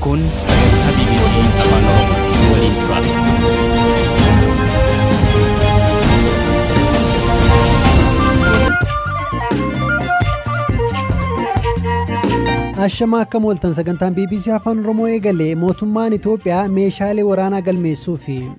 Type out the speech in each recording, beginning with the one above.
Kun sagantaa BBC Afaan Oromooti. Nu waliin turaa. Ashamaa akka mooltan sagantaan BBC Afaan Oromoo eegale mootummaan Itoophiyaa meeshaalee waraanaa galmeessuu fi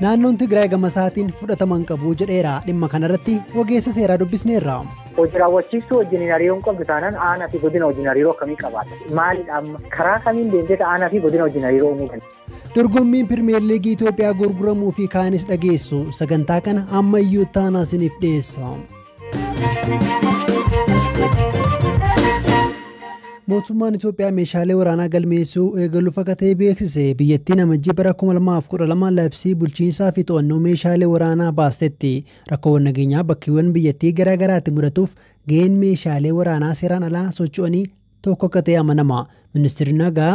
Naannoon Tigraay gamasaatiin fudhatama hin qabu jedheera. Dhimma kanarratti ogeessa seeraa dubbisneerra. Hojii raawwachiistuu wajjin hin hariiroon qabdu taanaan aanaa fi godina wajjin hariiroo akkamii qabaata? Maalidha amma? Karaa kamiin deemtee aanaa fi godina wajjin hariiroo uumuu dandeenya? Dorgommiin Pirimeer Liigii Itoophiyaa gurguramuu fi kaanis dhageessu sagantaa kana amma iyyuu taanaa isiniif dhiyeessa. Mootummaan Itoophiyaa meeshaalee waraanaa galmeessuu eegaluuf akka ta'e beeksise. Biyyattiin amajjii bara 2012 labsii bulchiinsaa fi to'annoo meeshaalee waraanaa baastetti. Rakkoowwan nageenyaa bakkeewwan biyyattii garaa garaatti mudatuuf gaheen meeshaalee waraanaa seeraan alaa socho'anii tokko akka ta'e amanama. Ministeerri nagaa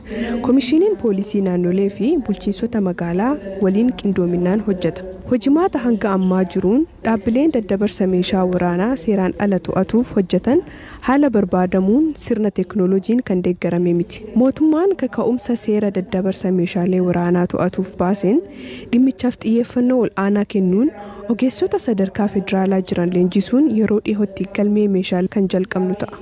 Komishiiniin Poolisii Naannolee fi Bulchiinsota Magaalaa waliin qindoominaan hojjeta. Hojimaata hanga ammaa jiruun dhaabbileen daddabarsa meeshaa waraanaa seeraan ala to'atuuf hojjetan haala barbaadamuun sirna teeknooloojiin kan deeggarame miti. Mootummaan kaka'umsa seera daddabarsa meeshaalee waraanaa to'atuuf baaseen dhimmichaaf xiyyeeffannoo ol'aanaa kennuun ogeessota sadarkaa federaalaa jiran leenjisuun yeroo dhihootti galmee meeshaalee kan jalqabnu ta'a.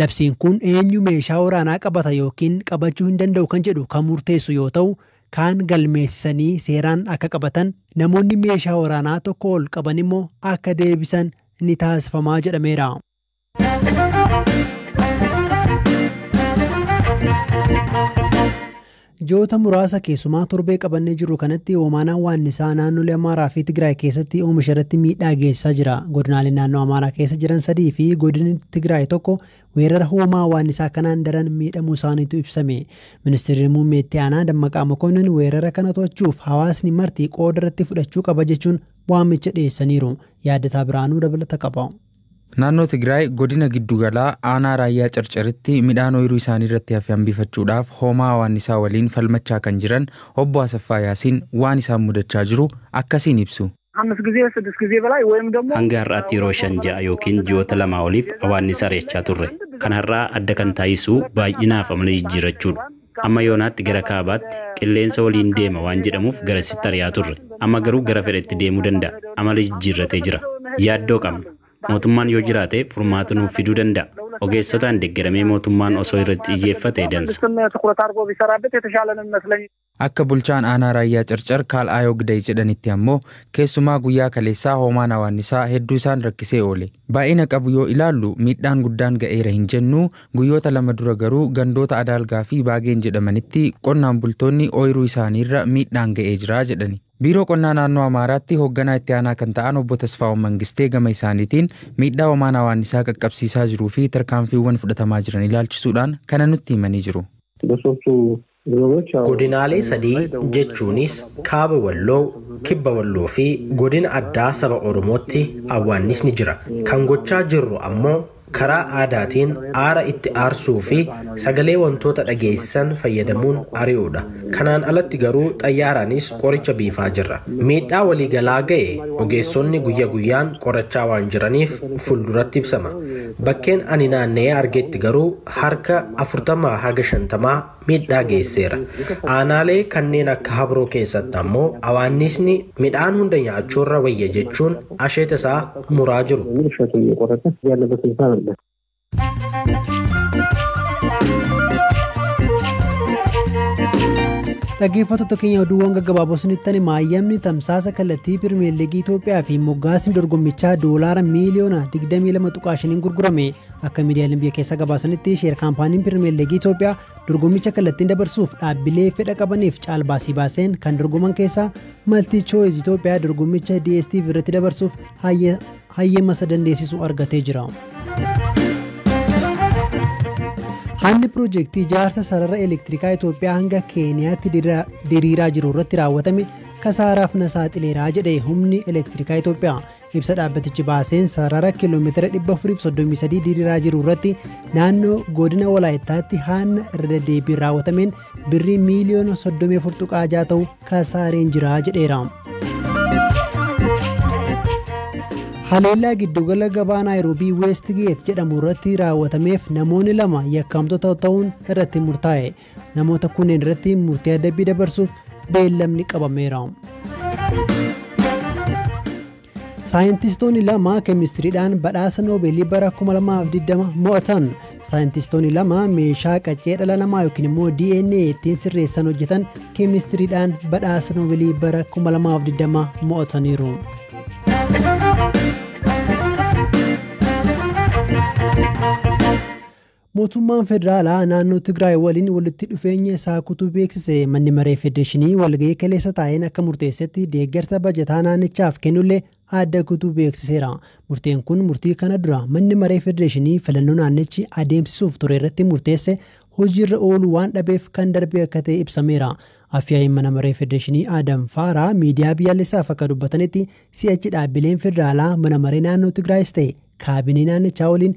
Labsiin kun eenyu meeshaa waraanaa qabata ykn qabachuu hin danda'u kan jedhu kan murteessu yoo ta'u, kaan galmeessisanii seeraan akka qabatan, namoonni meeshaa waraanaa tokkoo ol qaban immoo akka deebisan ni taasifama jedhameera. Ji'oota muraasa keessumaa torbee qabannee jirru kanatti hoomaanaan waannisaa naannolee Amaaraa fi Tigraay keessatti oomisha irratti miidhaa geessisaa jira. Godinaaleen naannoo Amaaraa keessa jiran sadii fi godinni Tigraay tokko weerara hoomaa waannisaa kanaan daran miidhamuu isaaniitu ibsame. Ministeerri Muummee Itti Aanaa Dammaqaa Mokonnin weerara kana to'achuuf hawaasni marti qooda irratti fudhachuu qaba jechuun waamicha dhiyeessaniiru. Yaaddataa Birhaanuu dabalata qaba. Naannoo Tigraay godina giddugalaa aanaa raayyaa carcaritti midhaan ooyiruu isaanii irratti hafe hambifachuudhaaf hoomaa hawaannisaa waliin falmachaa kan jiran obbo Asaffaa Yaasiin waan isaan mudachaa jiru akkasiin ibsu. Hanga har'aatti yeroo shan ja'a yookiin ji'oota lamaa oliif hawaannisa ari'achaa turre. Kan har'aa adda kan taasisu baay'inaa fi amala jijjiirrachuudha. Amma yoonaatti gara kaabaatti qilleensa waliin deema waan jedhamuuf garasitti ari'aa turre. Amma garuu gara fedhetti deemuu danda'a. Amala jijjiirratee jira. Yaaddoo qabna. Mootummaan yoo jiraate furmaata nuuf fiduu danda'a. Ogeessotaan deggeramee mootummaan osoo irratti xiyyeeffate dansa. Akka bulchaan aanaa Raayyaa Carcar Kaal Aayoo Giday jedhanitti ammoo keessumaa guyyaa kaleessaa hoomaan hawaannisaa hedduu isaan rakkisee oole. Baay'ina qabu yoo ilaallu miidhaan guddaan ga'eera hin jennu, guyyoota lama dura garuu gandoota Adaalgaa fi Baageen jedhamanitti qonnaan bultoonni ooyiruu isaaniirra miidhaan ga'ee jira jedhani. Biiroo Qonnaa Naannoo Amaaraatti hoogganaa itti aanaa kan ta'an obbo Tasfaa'oon Mangistee gama isaaniitiin miidhaa homaan awaannisaa qaqqabsiisaa jiruu fi tarkaanfiiwwan fudhatamaa jiran ilaalchisuudhaan kana nutti himanii jiru. Gosoota Godinaalee sadii jechuunis Kaaba Walloo, Kibba Walloo fi Godina Addaa Saba Oromootti awwaannisni jira. Kan gochaa jirru ammoo karaa aadaatiin aara itti aarsuu fi sagalee wantoota dhageessisan fayyadamuun ari'uudha. Kanaan alatti garuu xayyaaraanis qoricha biifaa jirra. Miidhaa waliigalaa ga'e ogeessonni guyya guyyaan qorachaa waan jiraniif fulduratti ibsama. Bakkeen ani naanna'ee argetti garuu harka 40 haga 50 miidhaa geesseera. Aanaalee kanneen akka Habroo keessatti ammoo awaanniisni midhaan hunda nyaachuurra wayya jechuun asheeta isaa muraa jiru. Dhaggeeffattoota keenya oduuwwan gaggabaaboo isinittani maayyamni tamsaasa kallattii pirimeer liigii Itoophiyaa fi moggaasni dorgommichaa doolaara miiliyoona 22.5 gurgurame Akka miidiyaaleen biyya keessaa gabaasanitti sheer kaampaaniin Pirimeer Liigii Itoophiyaa dorgommicha kallattiin dabarsuuf dhaabbilee fedha qabaniif caalbaasii baaseen kan dorgoman keessaa Maltii Chooyiz Itoophiyaa dorgommicha DSTV irratti dabarsuuf hayyama isa dandeessisu argatee jira. Haalli piroojeektii ijaarsa sarara elektirikaa Itoophiyaa hanga Keeniyaatti diriiraa jiru irratti raawwatame kasaaraaf na saaxileeraa jedhe humni elektirikaa Itoophiyaa. Ibsa dhaabbatichi baaseen sarara kiiloomeetira 433 diriiraa jiru irratti naannoo godina Walaayittaatti haanna irra deddeebiin raawwatameen birrii miiliyoona 34.6 ta'u kasaareen jira jedheera. Haleellaa giddugala gabaa Naayiroobii Weestgeet jedhamu irratti raawwatameef namoonni lama yakkamtoota ta'uun irratti murtaa'e. Namoota kunneen irratti murtii adabbii dabarsuuf beellamni qabameera. Saayintistoonni lama keemistiriidhaan badhaasa noobeelii bara 2020 mo'atan. Saayintistoonni lama meeshaa qaccee dhala namaa yookiin immoo DNA ittiin sirreessan hojjetan keemistiriidhaan badhaasa noobeelii bara 2020 mo'ataniiru. Mootummaan Federaalaa naannoo Tigraay waliin walitti dhufeenya isaa kutuu beeksise. Manni Maree Federeeshinii walga'ii kaleessa taa'een akka murteessetti deeggarsa bajataa naannichaaf kennullee adda kutuu beeksiseera. Murteen kun murtii kana dura Manni Maree Federeeshinii filannoo naannichi adeemsisuuf ture irratti murteesse hojiirra ooluu waan dhabeef kan darbe akka ta'e ibsameera. Afyaa'iin Mana Maree Federeeshinii Adam Faaraa miidiyaa biyyaalessaaf akka dubbatanitti si'achi dhaabbileen federaalaa mana maree naannoo Tigraayis ta'e kaabinee naannichaa waliin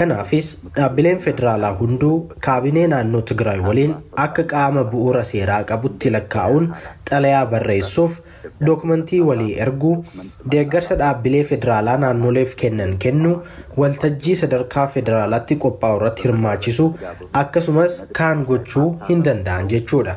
Kanaafis dhaabbileen federaalaa hunduu kaabinee naannoo Tigraay waliin akka qaama bu'uura seeraa qabutti lakkaa'uun xalayaa barreessuuf, dookmantii walii erguu, deeggarsa dhaabbilee federaalaa naannoleef kennan kennuu, waltajjii sadarkaa federaalaatti qophaa'urratti hirmaachisuu akkasumas kaan gochuu hindanda'an jechuudha.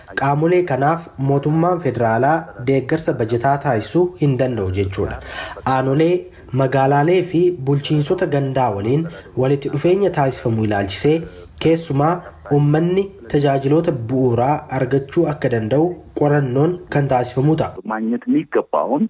Qaamolee kanaaf mootummaan federaalaa deeggarsa bajataa taasisu hin danda'u jechuudha. Aanolee, magaalaalee fi bulchiinsota gandaa waliin walitti dhufeenya taasifamu ilaalchisee keessumaa ummanni tajaajiloota bu'uuraa argachuu akka danda'u qorannoon kan taasifamuu ta'a. Maagnet miiggabbaahuun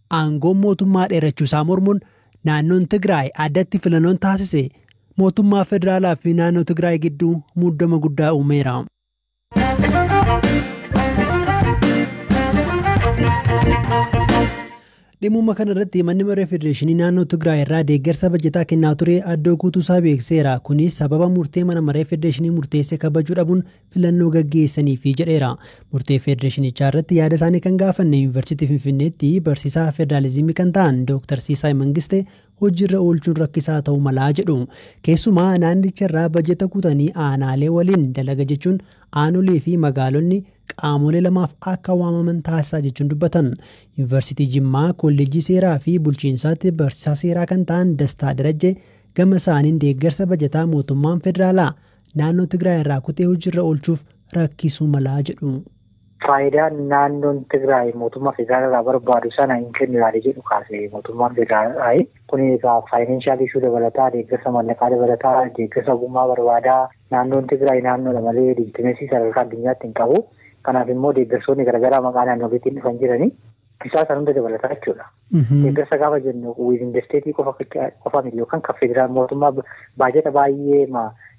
aangoon mootummaa dheerachuu isaa mormuun naannoon Tigraay addatti filannoon taasise mootummaa federaalaa fi naannoo Tigraay gidduu muddama guddaa uumeera. Dhimma kana irratti manni maree federeeshinii naannoo Tigraay irraa deeggarsa bajataa kennaa ture addoo guutuu isaa beekseera. Kunis sababa murtee mana maree federeeshinii murteesse kabajuu dhabuun filannoo gaggeessaniifi jedheera. Murtee federeeshinichaa irratti yaada isaanii kan gaafanne Yuunivarsiitii Finfinneetti barsiisaa federaalizimii kan ta'an Dooktar Siisaay Mangiste hojiirra oolchuun rakkisaa ta'uu malaa jedhu. Keessumaa naannicha irraa bajeta kutanii aanaalee waliin dalaga jechuun aanolee fi magaalonni qaamolee lamaaf akka waamaman taasisaa jechuun dubbatan. Yuunivarsiitii Jimmaa kolleejjii seeraa fi bulchiinsaatti barsiisaa seeraa kan ta'an Dastaa Darajjee gama isaaniin deeggarsa bajataa mootummaan federaalaa naannoo Tigraay irraa kutee hojiirra oolchuuf rakkisuu malaa jedhu. Faayidaa naannoon Tigraay mootummaa federaalaa irraa barbaadu sana hin kennu yaada jedhu kaase mootummaan federaalaa. Kun egaa faayinaanshaal ishuu dabalataa, deeggarsa maallaqaa dabalataa, deeggarsa ogummaa barbaadaa. Naannoon Tigraay naannoodha malee liijitimeesii sadarkaa addunyaatti hin qabu. Kanaaf immoo deeggarsoonni garaagaraa maqaa naannoleetiin dhufan jiranii. Isaa kan hunda dabalataa jechuudha. Deeggarsa gaafa jennu wiizin desteetii qofa qofa miti yookaan kan federaal mootummaa baajata baay'ee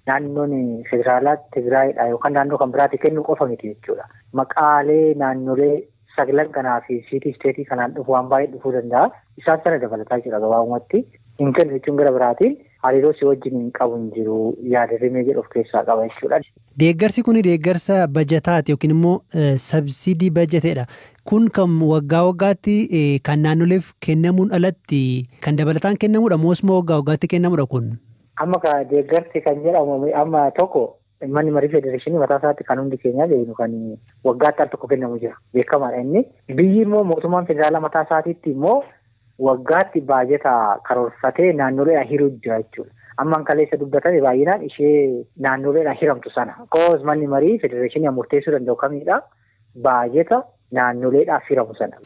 naannoon federaalaa Tigraayidha yookaan naannoo kan biraatti kennu qofa miti jechuudha. Maqaalee naannolee saglan kanaa fi siitii isteetii kanaan dhufu waan baay'ee dhufuu danda'a. Isaan sana dabalataa jechuudha gabaabumatti. Hin kennu jechuun gara biraatiin Hariiroo si wajjiniin qabu hin jiru yaada rimee jedhu of keessaa qaba jechuudha. Deeggarsi kun deeggarsa bajataati yookiin immoo sabsiidii bajateedha. Kun kan waggaa waggaatti kan naannoleef kennamuun alatti kan dabalataan kennamuudha moosuma waggaa waggaatti kennamuudha kun. Amma ka deeggarsi kan jedhamu amma tokko Manni marii federeeshinii mataa isaatti kan hundi keenyaa beeknu kan waggaatti al tokko kennamu jira. Beekamaadha inni. Biyyi immoo mootummaan federaalaa mataa isaatiitti immoo waggaatti baajata karoorfatee naannoleedhaan hiruu jira jechuudha. Ammaan kaleessa dubbatame baay'inaan ishee naannoleedhaan hiramtu sana. Koos manni marii federeeshinii murteessuu danda'u kamiidha. baajeta naannoleedhaaf hiramu sana.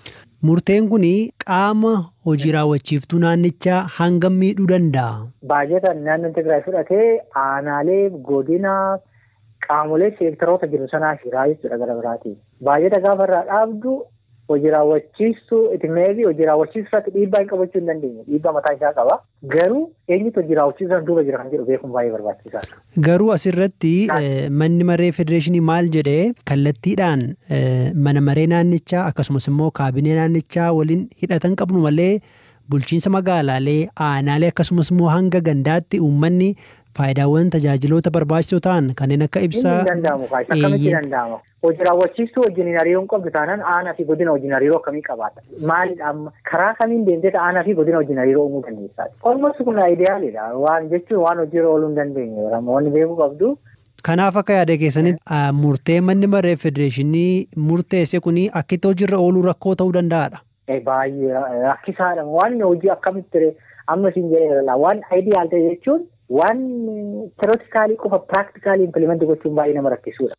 Murteen kun qaama hojii raawwachiiftuu naannichaa hangam miidhuu danda'a? Baajeta naannoon Tigraay fudhate aanaalee, godina, qaamolee seektaroota jiru sanaa hiraa jechuudha gara biraatiin. Baajeta gaafa irraa dhaabdu hojii raawwachiistuu itti meebii hojii raawwachiisuu irratti dhiibbaa hin qabachuu hin dandeenye. Dhiibbaa mataa isaa qaba. Garuu eenyutu hojii raawwachiisaan duuba jira kan jedhu beekuun baay'ee barbaachisaadha. Garuu asirratti manni maree federeeshinii maal jedhee kallattiidhaan mana maree naannichaa akkasumas immoo kaabinee naannichaa waliin hidhatan qabnu malee bulchiinsa magaalaalee aanaalee akkasumas immoo hanga gandaatti uummanni faayidaawwan tajaajiloota barbaachisoo ta'an kanneen akka ibsaa. Inni hin danda'amu kaas akkamitti danda'ama? Hojii raawwachiistuu wajjiniin hariiroo hin qabdu taanaan aanaa fi godina wajjin hariiroo akkamii qabaata? Maalidha amma? Karaa kamiin deemtee aanaa fi godina wajjin hariiroo uumuu dandeessaa? Olmost kun ayidiyaaliidha. Waan jechuun waan hojiirra ooluu hin dandeenye wanni beekuu qabdu. Kanaaf akka yaada keessanitti murtee manni maree federeeshinii murteesse kun akkitti hojiirra ooluu rakkoo ta'uu danda'aadha. Baay'ee rakkisaadha. Waan hojii akkamitti ree amma isin jedheera waan ayidiyaal ta'e jechuun waan terotikaalii qofa piraaktikaalii impilimenti gochuun baay'ee nama rakkisuudha.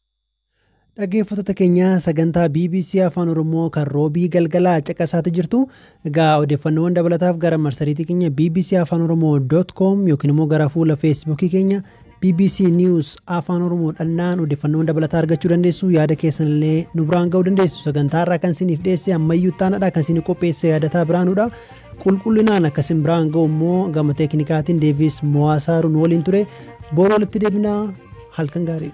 Dhaggeeffattoota keenya sagantaa BBC Afaan Oromoo kan roobii galgalaa caqasaati jirtu. Egaa odeeffannoowwan dabalataaf gara marsariitii keenya BBC Afaan Oromoo dot com yookiin immoo gara fuula feesbuukii keenya BBC News Afaan Oromoo dhannaan odeeffannoowwan dabalataa argachuu dandeessu. Yaada keessan illee nu biraan ga'uu dandeessu. Sagantaa irraa kan isiniif dhiyeesse ammayyuu taanadha kan isin qopheesse yaadataa biraanudha. Qulqullinaan akkasin biraan ga'u immoo gama teeknikaatiin Deevis Mo'aasaaruu nu waliin ture. Boru walitti deebinaa halkan gaarii.